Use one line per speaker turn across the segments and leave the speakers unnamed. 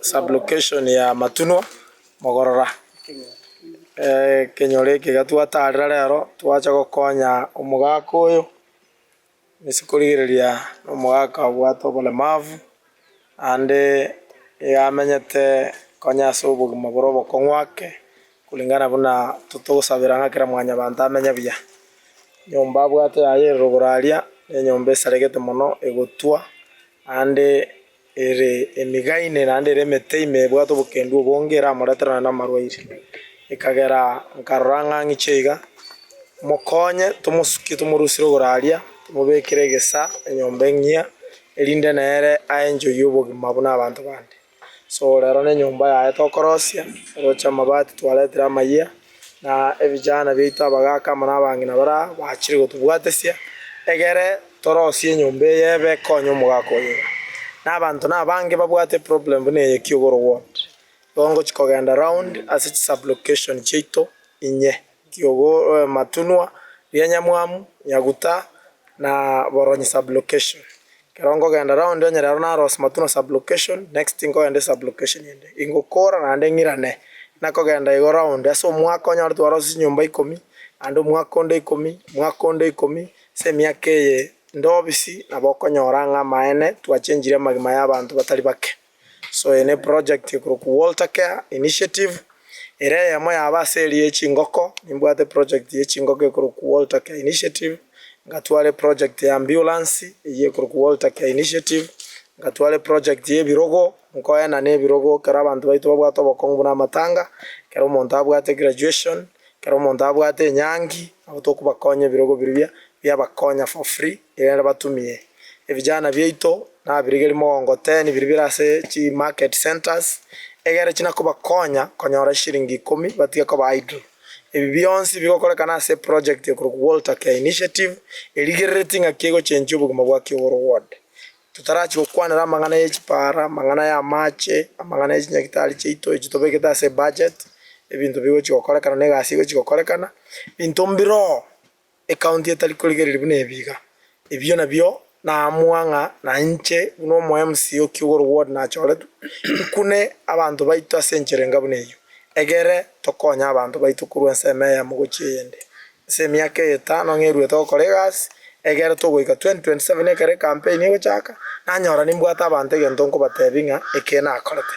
Sublocation ya Matunwa Mogorora. Ekenyoro eke iga twataarera rero twacha gokonya omogaka oyo ase korigereria omogaka obwate oboremavu naende iga amenyete konya ase obogima bore obokong'u ake kulingana buna totogosabera ng'a kera mwanyabanto amenye buya. Enyomba abwate yaye ere rogoro aria, nenyomba esaregete mono egotwa Naende ere emiga ime, naende ere emete ime ebwate obokendu obonge eramoreterane namarwaire. Ekagera nkarora ng'a ng'iche iga, mokonye tomosukie tomorusire igoro aria, tomobekere egesa enyomba eng'ia, erinde nere aenjoyie obogima buna abanto bande. So rero nenyomba yaye tokorosia, oroche amabati twaretire amayia, na ebijana biaito abagaka amo nabang'ina bare aa bachire gotobwatesia, egere torosie enyomba eye ebe ekonye omogaka oyo iga. Na abanto nabange babwate eproblem buna eye Kiugoro ward, igo ngochi kogenda round ase chisublocation chiaito inye. ki'ogoematunwa, ria nyamwamu, nyaguta, na boronyi sublocation. Ekero nkogenda round onye rero narose matunwa sublocation, next nkogende sublocation ende. Ingokora naende ng'irane buna kogenda igo round. Ase omwaka onyore twarose chinyomba ikomi, naende omwaka onde ikomi, omwaka onde ikomi, ase emiaka eye inde obisi nabo okonyora ng'a amaene twachengirie amagima y'abanto batari bake. So eye ne project ekorokwa Walter Care Initiative, ere eyemo yaba ase eria ye chingoko, nimbwate project ye chingoko ekorokwa Walter Care Initiative, ngatware project ya ambulance eyio ekorokwa Walter Care Initiative, ngatware project ye ebirogo, nkoyana ne ebirogo ekero abanto baito babwate obokong'u buna amatanga, ekero omonto abwate graduation, ekero omonto abwate enyangi, nabo tokobakonya ebirogo birobia biabakonya for free. Egere batumie ebijana biaito nabirigerie mogongo ten biria bire ase chi market centers egere chire nakobakonya konyora chishiringi ikomi batige koba idle. Ebi bionsi bigokorekana ase eproject ekorokwa Walter Care Initiative erigerereti ng'aki egochenchia obogima bwa Kigoro ward. Totarachi gokwanera amang'ana ye chipara, amang'ana y'amache, amang'ana ye chinyagitari chiaito echio tobegete ase ebudget, ebinto bigochi gokorekana na egasi egochi gokorekana, binto mbiroo Ekaunti etari korigereria buna ebiiga ebio nabio naamua ng'a nainche buna omo MC o Kigoro ward nachoretwe, tukune abanto baito ase enchera enga buna eyio, egere tokonye abanto baito korwa ensemo eyemo gochia eyende. Ase emiaka eye etano ng'a eruete gokora egasi egere togoika 2027 ekero ecampaign egochaka, nanyora nimbwate abanto egento nkobateebia ng'a eke nakorete.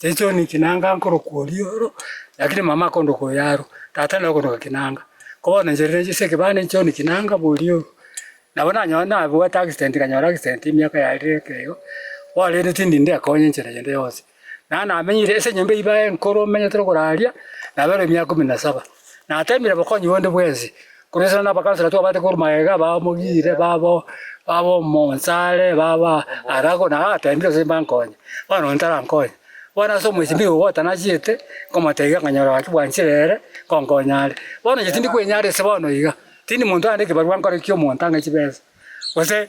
Chechoni chinanga nkorokwa oria oro, lakini mama akondoka oyo aro, tata naye okondoka kinanga. Ko bono inche riria nchesire ekebande nchioni kinanga boria oyo. Nabo nanyora nabwate accident nkanyora accident emiaka yarire ekeigo, bono rende tindi ndekonye enchera yonde yonsi. Naro namenyire ase enyomba eyi bae enkoro omenyete ore koraria, nabere emiaka ikomi na saba. Nateemire bokonyi bonde bwensi, korwa isiko nabakansora twabate korwa magega aba omogire, baba baba omonsare, baba arago, na ateemire gose mbankonye, bono onye tarankonye. Bono ase omosibwa igo gotanachete, nkomotebia ng'a nyora gaki bwanchire ere, nkonkonye are. Bono inche tindi kwenyara ase bono iga, tindi monto arande ekebarwa nkore ki'omonto ang'e chibesa, gose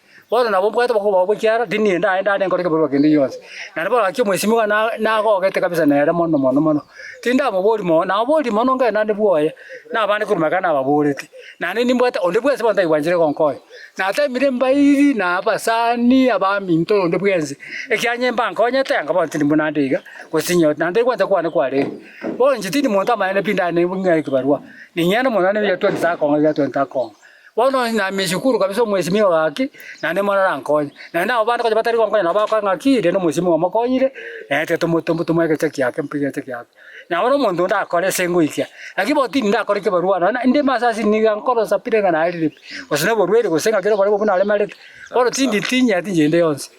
Bono nabo mbwate okobao bw'ekiara, tindi nende aye ndane nkore ekebarua kende gionsi. Na nabo gaki omwesimigwa na nagogete kabisa nere mono mono mono. Tindamoboria mono, namoboria mono onga naende bwoye, na abande korwa magega nababoreti. Naende nimbwate onde bwensi bono taigwanchire gonkonya. Nateemire embairi, na abasani, abaminto, na onde bwensi. Ekiagera inye mbankonyete, anga bono tindi buna nde iga, gose tinyore, naende egwancha kwane kwarenge. Bono inche tindi monto amanyene pi ndane ng'a ekebarua. Ning'ende mono naende ebiato ntakong'a ebiato ntakong'a. Bono onsi namie esukuru kabisa omwesimi oyo gaki, naende mono arankonye. Naende abwo bande konya batari konkonya nabo bagoka ng'aki, rende omwesimi oyo omokonyire, naete tomo tomo tomoe egecho giake mpe egecho giake. Na bono omonto onde akore ase ngoikia, lakini bono tindi ndakora ekebarua nonya na ndime ase asili niga nkoro nsapire ng'a narire pi, gose noborwaire gose ng'a kera oboremu obwo naremarete, bono tindi tinyeti inche ende yonsi.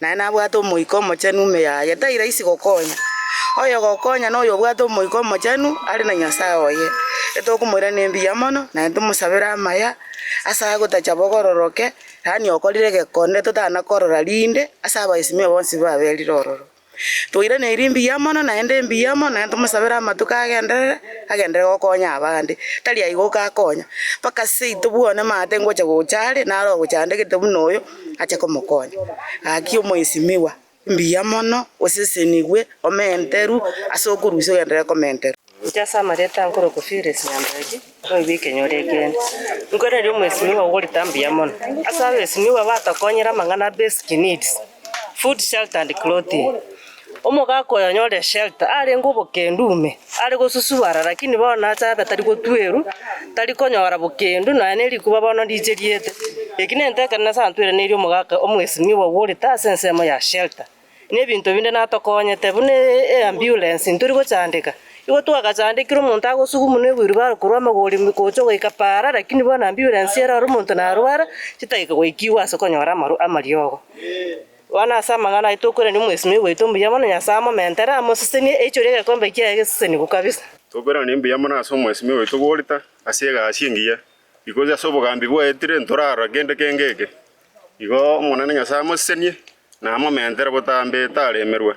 Naye nabwate Omoika Omochenu ime yaye, tairaisi gokonya. Oyogokonya noyo obwate Omoika Omochenu are na Nyasae oye. Etokomoiraneria embuya mono, naye ntomosabere amaya, ase agotacha bokororoke, yaani okorire egekonde totana korora rinde, ase abaesimia bonsi baberire ororo. Toiraneiri mbuya mono, naende mbuya mono, naye ntomosabere amatuko agenderere, agenderere gokonya abande. Tari aye goka akonya, mpaka seito bwone maate ngocha gocha are, naro ogocha ande gete buna oyo. ache komokonya. Gaki omoesimigwa, mbuya mono, osesenigwe, omenteru ase okorusia ogenderere komenterwa. Gocha
ase amarioto aa nkorokwa Felix Nyambeki, oigwe ekenyoro ekeene. Inkwereria omoesimigwa ogorita mbuya mono ase abesimigwa batokonyire amang'ana a basic needs, food, shelter and clothing. Omogaka oyo anyorire Shealtiel arenge obokendu ime, are gosusubara, lakini bono aase abe tari gotwerwa, tari konyora bokendu, nonya ne rikuba bono ndiche riete. Eki nento ekero Nyasae antweraneirie omogaka omwesinwa obo bw'orita ase ensemo ya Shealtiel, na ebinto binde natokonyete, buna eamburensi ntori gochandeka. Igo twagachandekire omonto agosugumunwa ewilbaro korwa amagori gocha goika paara, lakini bono amburensi erore omonto narwara, chitageka goikigwa ase konyora amariogo. Bono ase amang'ana aye tokorerania omwesimeri oito mbuya mono Nyasae amomentere, amosesenie, aichore egekombe kiaye geseseniku kabisa. Tokorerania mbuya mono
ase omwesimeri oito bw'orita ase egasi engiya, ikoki ase obogambi bwaetire ntorarora kende keng'eke. Igo Omonene Nyasae amosesenie, na amomentere botambe taremerwe,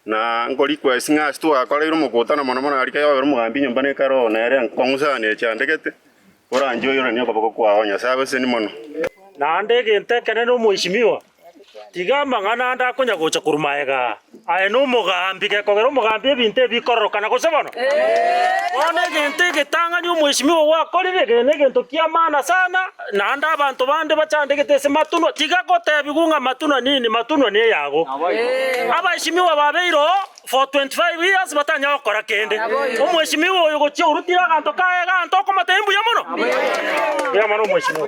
Na nkorikwesie ng'a ase twakoreire omokutano mono mono arike yobera omogambi nyomba ne kare oo nere nkong'usanera echiandegete, Oranchoiyoranie okoboko kwao, O Nyasae obeseni mono. Naende
egento ekenene omoishimiwa, tiga amang'ana ande akonya gocha korwa magega aa, aye nomogambi gekogera omogambi ebinto ebi bikororokana, gose bono? Bono egento egetang'ani omoishimiwa gwakorire, kegene egento kiamana sana. Naende abanto bande bachandegete ase matunwa tiga gotebigwa ng'a matunwa nini, matunwa neyago. Abaesimigwa babeirwe oo 425 years batanyare gokora kende. Omwesimigwa oyo gochia orutire aganto kaye egento okomotebia mbuya mono. Mbuya mono omwesimigwa.